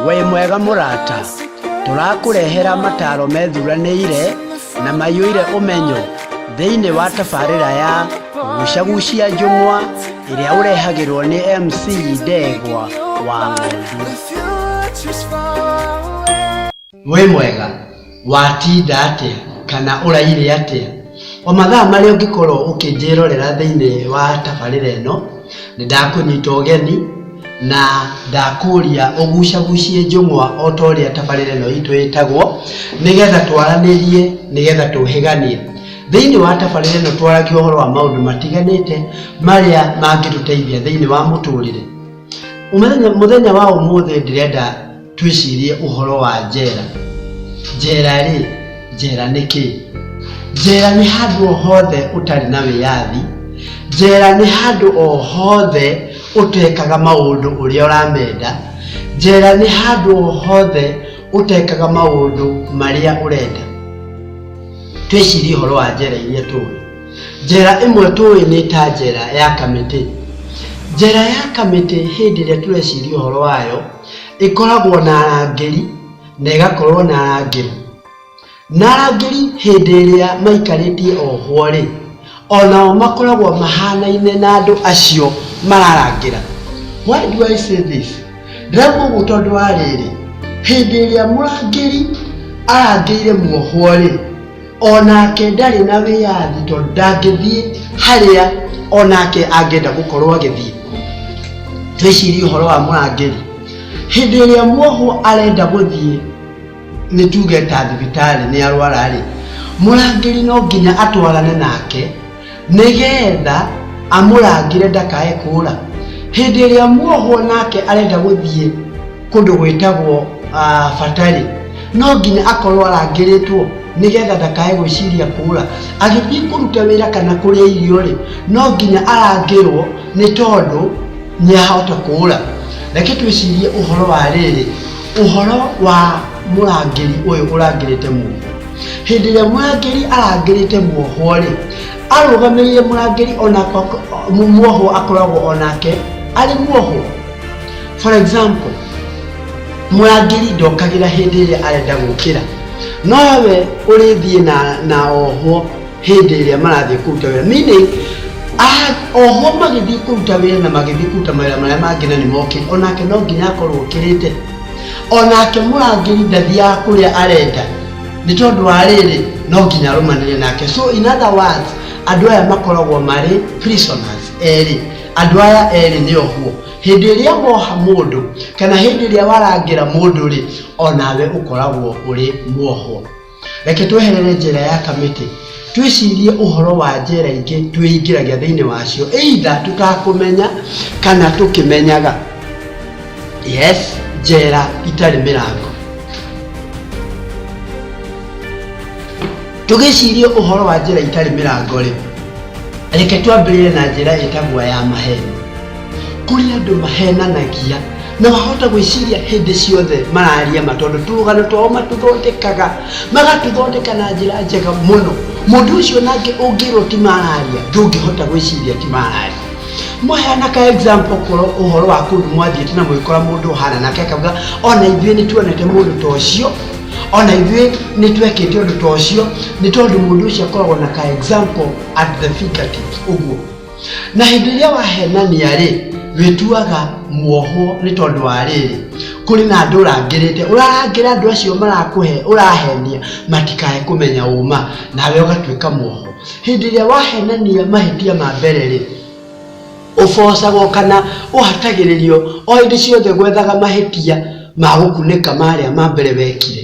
wĩ mwega mũrata tũrakũrehera mataro methuranĩire na maiyũire ũmenyo thĩinĩ wa tabarĩra ya gucagucia njũng'wa ĩrĩa ũrehagĩrwo nĩ mc ndegwa wa ng'ondu wĩ mwega watinda atĩa kana ũraire atĩa o mathaa marĩa ũngĩkorwo ũkĩnjĩrorera thĩinĩ wa tabarĩra ĩno nĩ ndakũnyita ũgeni na ndakũria ũgucagucie njũng'wa o ta ũrĩa tabarĩra ĩno itũ ĩtagwo nĩgetha twaranĩrie nĩgetha tũhĩganie thĩinĩ wa tabarĩra ĩno twaragia ũhoro wa maũndũ matiganĩte marĩa mangĩtũteithia thĩinĩ wa mũtũrĩre mũthenya wa ũmũthĩ ndĩrenda twĩcirie ũhoro wa njera njera rĩ njera nĩ kĩ njera nĩ handũ o hothe ũtarĩ na wĩyathi njera nĩ handũ o hothe ũtekaga maũndũ ũrĩa ũramenda njera nĩ handũ o hothe ũtekaga maũndũ marĩa ũrenda twĩcirie ũhoro wa njera iria tũĩ njera ĩmwe tũĩ nĩ ta njera ya kamĩtĩ njera ya kamĩtĩ hĩndĩ ĩrĩa tũreciria ũhoro wayo ĩkoragwo na arangĩri na ĩgakorwo na arangĩri. Na arangĩri hĩndĩ ĩrĩa maikarĩtie ohwo-rĩ, onao makoragwo mahanaine na andũ acio mararangĩra. Why do I say this? Ndĩrauga ũguo tondũ wa rĩrĩ, hĩndĩ ĩrĩa mũrangĩri arangĩire mwohwo-rĩ, onake ndarĩ na wĩyathi tondũ ndangĩthiĩ harĩa onake angĩenda gũkorwo agĩthiĩ twĩcirie ũhoro wa mũrangĩri hĩndĩ ĩrĩa mwohwo arenda gũthiĩ nĩ tuge ta thibitarĩ nĩ arwara rĩ mũrangĩri no nginya atwarane nake nĩgetha amũrangĩre ndakae kũũra hĩndĩ ĩrĩa muohwo nake arenda gũthiĩ kũndũ gwĩtagwo ah, batarĩ no nginya akorwo arangĩrĩtwo nĩgetha ndakae gwĩciria kũũra agĩthiĩ kũruta wĩra kana kũrĩa irio rĩ no nginya arangĩrwo nĩ tondũ nĩ ahota kũũra reke twĩcirie ũhoro wa rĩrĩ ũhoro wa mũrangĩri ũyũ ũrangĩrĩte mũndũ hĩndĩ ĩrĩa mũrangĩri arangĩrĩte muohwo-rĩ arũgamĩrĩire mũrangĩri onakwa muohwo akoragwo onake arĩ muohwo for example mũrangĩri ndokagĩra hĩndĩ ĩrĩa arenda gũkĩra no we ũrĩthiĩ na, na ohwo hĩndĩ ĩrĩa marathiĩ kũruta wĩra meaning a- ohwo magĩthiĩ kũruta wĩra na magĩthiĩ kũruta mawĩra marĩa mangĩ na nĩ mokĩte onake no nginya akorwo ũkĩrĩte onake mũrangĩri ndathiaga kũrĩa arenda nĩ tondũ wa rĩrĩ no nginya arũmanĩre nake so in other words andũ aya makoragwo marĩ prisoners erĩ andũ aya erĩ nĩ ohwo hĩndĩ ĩrĩa woha mũndũ kana hĩndĩ ĩrĩa warangĩra mũndũ rĩ onawe ũkoragwo ũrĩ mwohwo Reke tweherere njĩra ya kamĩtĩ, twĩcirie ũhoro wa njĩra ingĩ twĩingĩragia thĩinĩ wacio, either tũtakũmenya kana tũkĩmenyaga. Yes, njĩra itarĩ mĩrango. Tũgĩcirie ũhoro wa njĩra itarĩ mĩrango-rĩ, reke twambĩrĩrie na njĩra ĩtagwo ya maheeni. kũrĩ andũ mahenanagia na wahota gwĩciria hĩndĩ ciothe mararia ma tondũ tũrũgano twao matũthondekaga magatũthondeka na njĩra njega mũno mũndũ ũcio nake ũngĩrwo ti mararia ndũngĩhota gwĩciria ti mararia mwaheana ka example korwo ũhoro wa kũndũ mwathiĩte na mwĩkora mũndũ ũhana nake akauga ona ithuĩ nĩ tuonete mũndũ ta ũcio ona ithuĩ nĩ twekĩte ũndũ ta ũcio nĩ tondũ mũndũ ũcio akoragwo na ka example at the fingertips ũguo na hĩndĩ ĩrĩa wahenania-rĩ wĩtuaga muohwo nĩ tondũ wa rĩrĩ kũrĩ na andũ ũrangĩrĩte ũrarangĩra andũ acio marakũhe ũrahenia matikae kũmenya ũma nawe ũgatuĩka muohwo hĩndĩ ĩrĩa wahenania mahĩtia ma mbere-rĩ ũbocagwo kana ũhatagĩrĩrio o hĩndĩ ciothe gwethaga mahĩtia ma gũkunĩka marĩa ma mbere wekire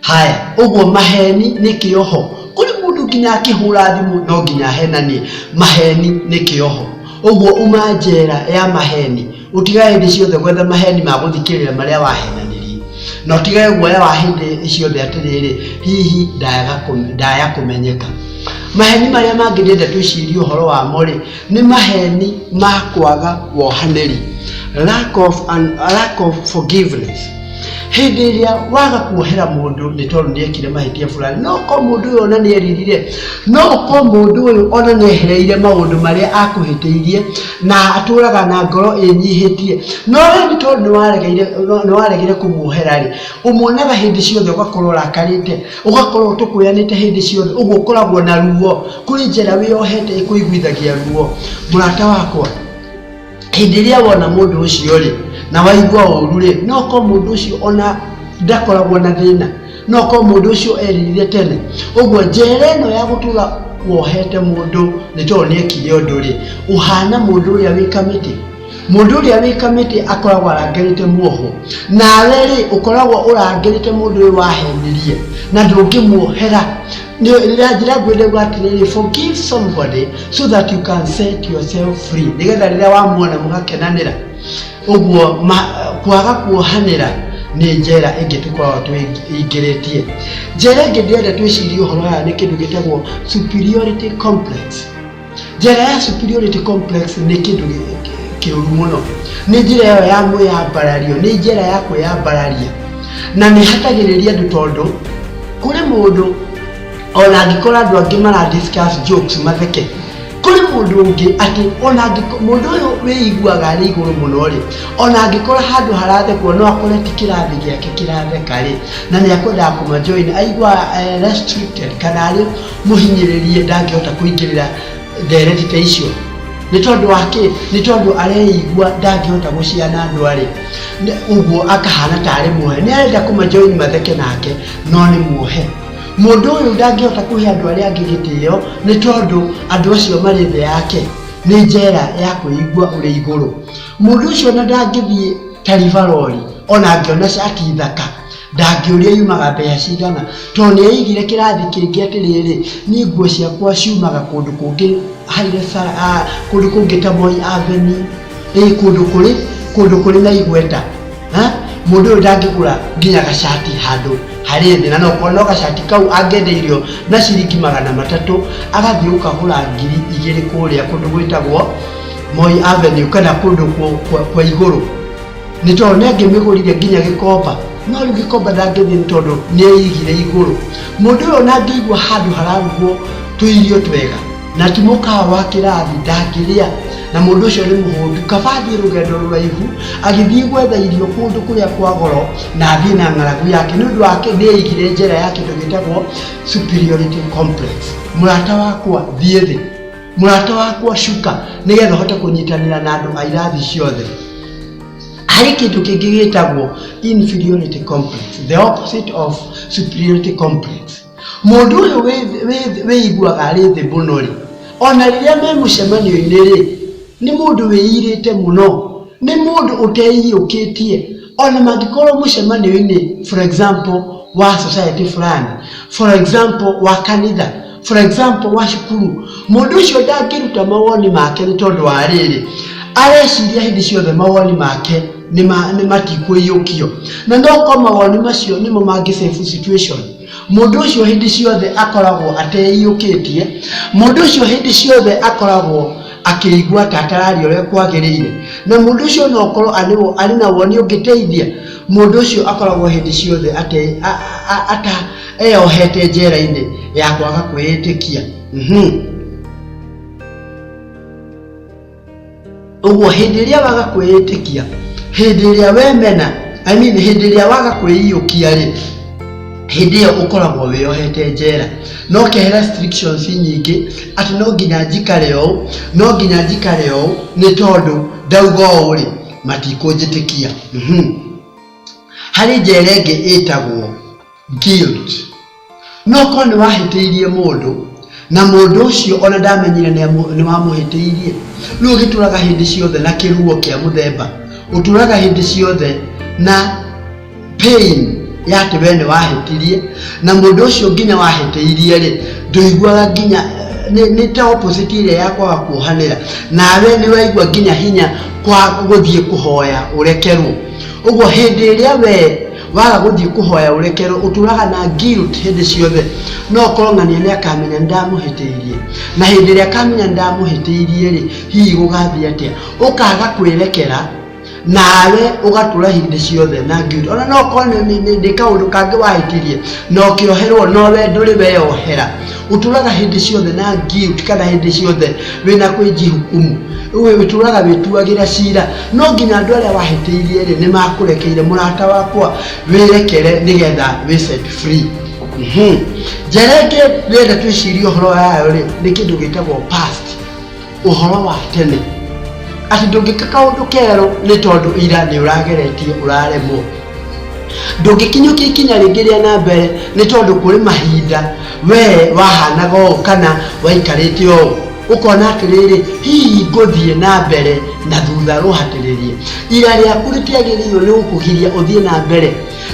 haya ũguo maheni nĩ kĩoho kũrĩ mũndũ nginya akĩhũra thimũ no nginya henanie maheni nĩ kĩoho ũguo uma njera ya maheni ũtigage hĩndĩ ciothe gwetha maheni ma gũthikĩrĩra marĩa wahenanirie na ũtigage guoya wa hĩndĩ ciothe atĩrĩrĩ hihi ndayaga kũme- ndaya kũmenyeka maheni marĩa mangĩ ndĩenda twĩcirie ũhoro wamo rĩ nĩ maheni ma kwaga wohanĩri lack of, un, lack of forgiveness hĩndĩ ĩrĩa waga kuohera mũndũ nĩ tondũ nĩ ekire mahĩtia fulani no ko mũndũ ũyũ ona nĩ eririre no ko mũndũ ũyũ ona nĩ ehereire maũndũ marĩa akũhĩtĩirie na atũraga na ngoro ĩnyihĩtie no rĩu nĩ tondũ nĩ waregeire- nĩ waregire kũmuohera rĩ ũmuonaga hĩndĩ ciothe ũgakorwo ũrakarĩte Ũgakorwo ũtũkũyanĩte hĩndĩ ciothe, ũguo ũkoragwo na ruo. Kũrĩ njĩra wĩyohete ĩkũiguithagia ruo. Mũrata wakwa, hĩndĩ ĩrĩa wona mũndũ ũcio-rĩ, na waigua ũru-rĩ, no ũkorwo mũndũ ũcio ona ndakoragwo na thĩna, no ũkorwo mũndũ ũcio eririre tene. Ũguo njera ĩno ya gũtũra wohete mũndũ nĩ tondũ nĩekire ũndũ-rĩ, ũhana mũndũ ũrĩa wĩ kamĩtĩ. Mũndũ ũrĩa wĩkamĩtie akoragwo arangĩrĩte muohwo, nawe-rĩ, ũkoragwo ũrangĩrĩte mũndũ ũyũ wahenirie na ndũngĩmuohera. Njĩra nguhĩ ndauga atĩrĩrĩ, forgive somebody so that you can set yourself free, nĩgetha rĩrĩa wamuona mũgakenanĩra. Ũguo kwaga kuohanĩra nĩ njera ĩngĩ tũkoragwo twĩingĩrĩtie. Njera ĩngĩ ndĩrenda twĩcirie ũhoro wayo nĩ kĩndũ gĩtagwo superiority complex. njĩra ya superiority complex nĩ kĩndũ kĩũru mũno nĩ njĩra ĩyo ya mwĩyambarario nĩ njĩra ya kwĩyambararia na nĩ hatagĩrĩria andũ tondũ kũrĩ mũndũ ona angĩkora andũ angĩ mara discuss jokes matheke kũrĩ mũndũ ũngĩ atĩ ona angĩko- mũndũ ũyũ wĩiguaga arĩ igũrũ mũno rĩ ona angĩkora handũ harathekwo no akore ti kĩrathi gĩake kĩratheka rĩ na nĩ akwendaga kũmajoin aigua eh, restricted kana arĩ mũhinyĩrĩrie ndangĩhota kũingĩrĩra ndereti ta icio nĩ tondũ wa kĩ nĩ tondũ areigua ndangĩhota gũciana andũ arĩ ũguo akahana tarĩ muohe nĩ arenda kũmajoini matheke nake no nĩ muohe mũndũ ũyũ ndangĩhota kũhe andũ arĩa angĩ gĩtĩo nĩ tondũ andũ acio marĩ thĩ yake nĩ njera ya kwĩigua ũrĩ igũrũ mũndũ ũcio na ndangĩthiĩ taribarori ona angĩona cati thaka Ndangĩũria yumaga mbeca cigana tondũ nĩ aigire kĩrathi kĩngĩ atĩrĩrĩ, niĩ nguo ciakwa ciumaga kũndũ kũngĩ Haile Sala- ah, kũndũ kũngĩ ta Moi Avenue, ĩ kũndũ kũrĩ kũndũ kũrĩ na igweta ha? mũndũ ũyũ ndangĩgũra nginya gacati handũ harĩ thĩ na nokorwo no gacati kau angĩendeirio na ciringi magana matatũ agathiĩ gũkagũra ngiri igĩrĩ kũrĩa kũndũ gwĩtagwo Moi Avenue kana kũndũ kũ- kwa kwa igũrũ nĩ tondũ nĩ angĩmĩgũrire nginya gĩkomba no rĩu gĩkomba ndangĩthiĩ nĩ tondũ nĩ aigire igũrũ mũndũ ũyũ ona angĩigua handũ hararugwo tũirio twega na ti mũkawa wa kĩrathi ndangĩrĩa na mũndũ ũcio nĩ mũhũndu kaba athiĩ rũgendo rũraihu agĩthiĩ gwetha irio kũndũ kũrĩa kwa goro na athiĩ na ng'aragu yake nĩ ũndũ wake nĩ aigire njĩra ya kĩndũ gĩtagwo superiority complex mũrata wakwa thiĩ thĩ mũrata wakwa cuka nĩgetha ũhote kũnyitanĩra na andũ a irathi ciothe harĩ kĩndũ kĩngĩ gĩtagwo inferiority complex the opposite of superiority complex mũndũ ũyũ wĩ- wĩ- wĩiguaga arĩ thĩ mũno rĩ ona rĩrĩa me mũcemanio-inĩ rĩ nĩ mũndũ wĩirĩte mũno nĩ mũndũ ũteiyũkĩtie ona mangĩkorwo mũcemanio-inĩ for example wa society fulani for example wa kanitha for example wa cukuru mũndũ ũcio ndangĩruta mawoni make nĩ tondũ wa rĩrĩ areciria hĩndĩ ciothe mawoni make nĩ ma- nĩ matikũiyũkio na no ko mawoni macio nĩmo mangĩ save situation mũndũ ũcio hĩndĩ ciothe akoragwo ateiyũkĩtie mũndũ ũcio hĩndĩ ciothe akoragwo akĩigua ta atararia ũrĩa kwagĩrĩire na mũndũ ũcio no ũkorwo arĩ- arĩ na woni ũngĩteithia mũndũ ũcio akoragwo hĩndĩ ciothe ate- a- a- a- ata- eyohete njera-inĩ ya kwaga kwĩĩtĩkia Mhm. ũguo hĩndĩ ĩrĩa waga kwĩĩtĩkia hĩndĩ ĩrĩa wemena I mean, hĩndĩ ĩrĩa waga kwĩiyũkia rĩ hĩndĩ ĩyo ũkoragwo wĩyohete njera no kehera restrictions nyingĩ atĩ no nginya njikare ũũ no nginya njikare ũũ nĩ tondũ ndauga ũũ rĩ matikũnjĩtĩkia Mhm. harĩ njera ĩngĩ ĩtagwo Guilt. No korwo nĩ wahĩtĩirie mũndũ na mũndũ ũcio ona ndamenyire nĩ amũ- nĩ wamũhĩtĩirie. Rĩu ũgĩtũraga hĩndĩ ciothe na kĩruo kĩa mũthemba, ũtũraga hĩndĩ ciothe na pain ya atĩ we nĩ wahĩtirie na mũndũ ũcio nginya wahĩtĩirie rĩ ndũiguaga nginya eh, nĩ nĩ ta opposite ĩrĩa ya kwaga kuohanĩra nawe nĩ ũraigua nginya hinya kwa gũthiĩ kũhoya ũrekerwo ũguo hĩndĩ ĩrĩa we waga gũthiĩ kũhoya ũrekerwo ũtũraga na guilt hĩndĩ ciothe no kong'ania nĩ akamenya ndamũhĩtĩirie na hĩndĩ ĩrĩa akamenya ndamũhĩtĩirie rĩ hihi gũgathiĩ atĩa ũkaga kwĩrekera nawe ũgatũra hĩndĩ ciothe na guilt ona no korwo nĩ kaũndũ kangĩ wahĩtirie na ũkĩoherwo no we ndũrĩ weyohera ũtũraga hĩndĩ ciothe na guilt kana hĩndĩ ciothe wĩna kwĩnjihukumu we ũtũraga wĩtuagĩra cira no nginya andũ arĩa wahĩtĩirie rĩ nĩ makũrekeire mũrata wakwa wĩrekere nĩgetha wĩ set free Mhm. njara ĩngĩ rĩenda twĩcirie ũhoro wayo rĩ nĩ kĩndũ gĩtagwo past ũhoro wa tene atĩ ndũngĩka kaũndũ kerũ nĩ tondũ ira nĩ ũrageretie ũraremwo ndũngĩkinyũkia ikinya rĩngĩ rĩa na mbere nĩ tondũ kũrĩ mahinda wee wahanaga ũũ kana waikarĩte ũũ ũkona atĩrĩrĩ hihi ngũthiĩ na mbere na thutha rũhatĩrĩrie ira rĩaku rĩtiagĩrĩirwo nĩ gũkũgiria ũthiĩ na mbere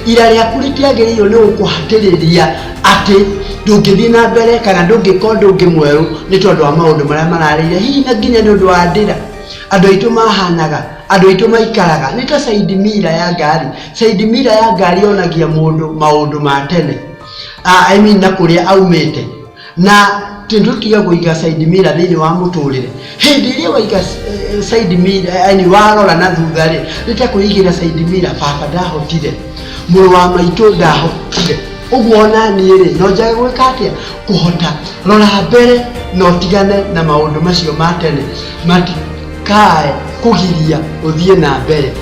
ira rĩaku rĩtiagĩrĩirwo nĩ gũkũhatĩrĩria atĩ ndũngĩthiĩ na mbere kana ndũngĩka ũndũ ũngĩ mwerũ nĩ tondũ wa maũndũ marĩa mararĩire hihi na nginya nĩ ũndũ wa ndĩra andũ aitũ mahanaga andũ aitũ maikaraga nĩ ta side mirror ya ngari side mirror ya ngari yonagia mũndũ maũndũ ma tene Ah, I mean na kũrĩa aumĩte Na kĩndũ tiga kũiga side mirror thĩinĩ wa mũtũrĩre, hĩndĩ ĩrĩa waiga side mirror yaani warora na thutha rĩ, nĩ ta kwĩigĩra side mirror baba ndahotire, mũrũ wa maitũ ndahotire, ũguo o na niĩ rĩ, no njage gwĩka atĩa? Kũhota. Rora mbere na ũtigane na maũndũ macio ma tene matikae kũgiria ũthiĩ na mbere.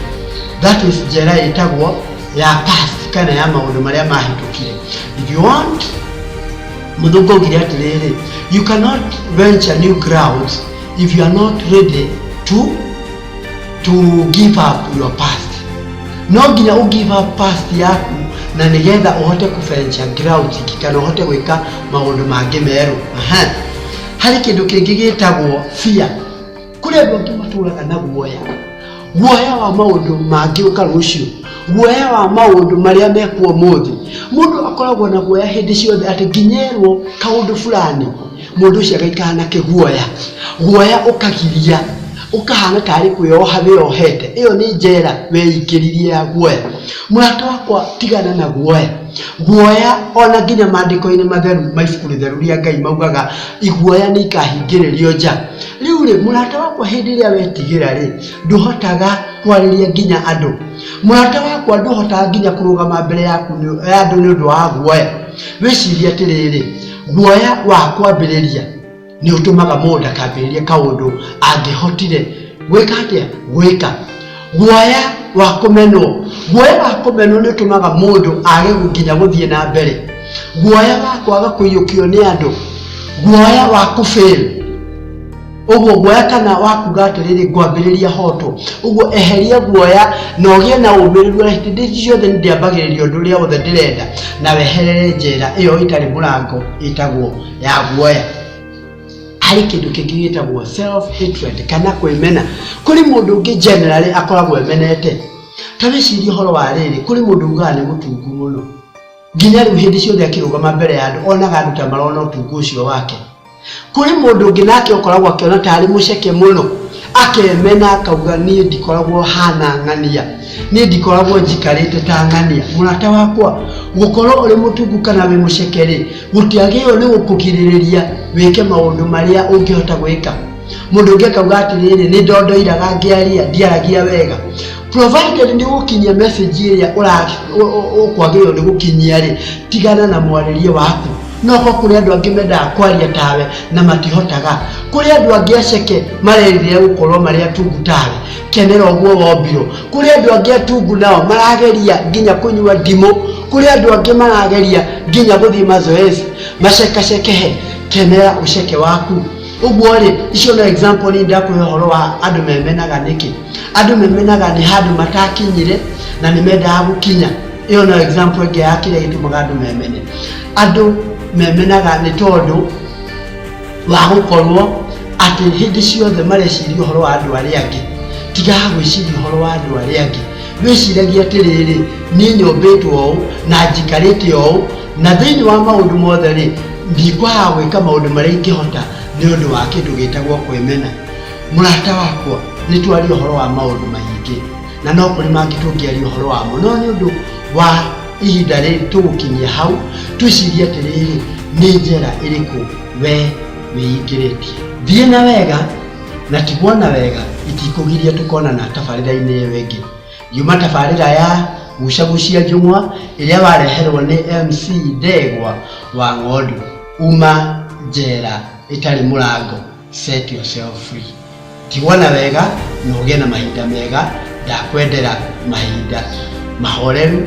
That is njĩra ĩtagwo... ya past kana ya maundu maria mahitũkire if you want mũthũngũ augire atĩrĩrĩ you cannot venture new grounds if you are not ready to to give up your past no nginya u give up past yaku na nigetha uhote ku venture grounds ingĩ kana uhote gwika maundu mangĩ merũ Aha. hari kindu kingi gitagwo fear kũrĩ andũ angĩ matũraga na guoya guoya wa maũndũ mangĩũka rũciũ guoya wa maũndũ marĩa mekuo mũthĩ mũndũ akoragwo na guoya hĩndĩ ciothe atĩ nginyerwo kaũndũ fulani mũndũ ũcio agaikara na kĩguoya guoya ũkagiria ũkahana tarĩ kwĩyoha wĩyohete ĩyo nĩ njera weikĩririe ya guoya mũrata wakwa tigana na guoya guoya ona nginya maandĩko-inĩ matheru ma ibuku rĩtheru rĩa ngai maugaga iguoya nĩ ikahingĩrĩrio nja rĩu rĩ mũrata wakwa hĩndĩ ĩrĩa wetigĩra rĩ ndũhotaga kwarĩria nginya andũ mũrata wakwa ndũhotaga nginya kũrũgama mbere yaku nĩ- ya andũ nĩ ũndũ wa guoya wĩcirie atĩrĩrĩ guoya wa kwambĩrĩria nĩ ũtũmaga mũndũ ndakambĩrĩrie kaũndũ angĩhotire gwĩka atĩa gwĩka guoya wa kũmenwo guoya wa kũmenwo nĩ ũtũmaga mũndũ age gũkinya gũthiĩ na mbere guoya wa kwaga kũiyũkio nĩ andũ guoya wa kũbĩl ũguo guoya kana wakuga atĩrĩrĩ ngwambĩrĩria hoto ũguo eheria guoya na ũgĩe na ũmĩrĩru na hĩndĩ ici ciothe nĩ ndĩambagĩrĩria ũndũ ũrĩa wothe ndĩrenda na weherere njĩra ĩyo ĩtarĩ mũrango ĩtagwo ya guoya harĩ kĩndũ kĩngĩ gĩtagwo self hatred kana kwĩmena kũrĩ mũndũ ũngĩ generally akoragwo emenete ta wĩcirie ũhoro wa rĩrĩ kũrĩ mũndũ ugaga nĩ mũtungu mũno nginya rĩu hĩndĩ ciothe akĩrũgama mbere ya andũ onaga andũ ta marona ũtungu ũcio wake kũrĩ mũndũ ũngĩ nake ũkoragwo akĩona ta arĩ mũceke mũno akemena akauga niĩ ndikoragwo hana ng'ania niĩ ndikoragwo njikarĩte ta ng'ania mũrata wakwa gũkorwo ũrĩ mũtungu kana wĩ mũceke rĩ gũtiagĩrĩirwo nĩ gũkũgirĩrĩria wĩke maũndũ marĩa ũngĩhota gwĩka mũndũ ũngĩ akauga atĩrĩrĩ nĩ ndondoiraga ngĩaria ndiaragia wega provided nĩ gũkinyia message ĩrĩa ũra- ũ- ũ- ũkwagĩrĩirwo nĩ gũkinyia rĩ tigana na mwarĩrie waku no ko kũrĩ andũ angĩ mendaga kwaria tawe na matihotaga kũrĩ andũ angĩ aceke marerirĩra gũkorwo marĩ atungu tawe kenera ũguo wombirwo kũrĩ andũ angĩ atungu nao marageria nginya kũnyua ndimũ kũrĩ andũ angĩ marageria nginya gũthiĩ mazoezi macekaceke he kenera ũceke waku ũguo rĩ icio no example nĩ ndakũhe ũhoro wa andũ memenaga nĩkĩ andũ memenaga nĩ handũ matakinyire na nĩ mendaga gũkinya ĩyo no example ĩngĩ ya kĩrĩa gĩtũmaga andũ memene andũ memenaga nĩ tondũ wa gũkorwo atĩ hĩndĩ ciothe mareciria ũhoro wa andũ arĩa angĩ tiga gwĩciria ũhoro wa andũ arĩa angĩ Wĩciragie atĩrĩrĩ, Niĩ nyombĩtwo ũũ, na njikarĩte ũũ, na thĩinĩ wa maũndũ mothe-rĩ, ndikwaga gwĩka maũndũ marĩa ingĩhota nĩ ũndũ wa kĩndũ gĩtagwo kwĩmena. Mũrata wakwa, nĩ twaria ũhoro wa maũndũ maingĩ, na no kũrĩ mangĩ tũngĩaria ũhoro wamo, no nĩ ũndũ wa ihinda rĩrĩ tũgũkinyia hau, twĩcirie atĩrĩrĩ, Nĩ njĩra ĩrĩkũ wee wĩingĩrĩtie? Thiĩ na wega. na tiguona wega itikũgiria tũkonana tabarĩra-inĩ ĩyo ĩngĩ yuma tabarĩra ya gucagucia njũng'wa ĩrĩa wareherwo nĩ mc ndegwa wa ng'ondu uma njera ĩtarĩ mũrango set yourself free tiguona wega na ũgĩe na mahinda mega ndakwendera mahinda mahoreru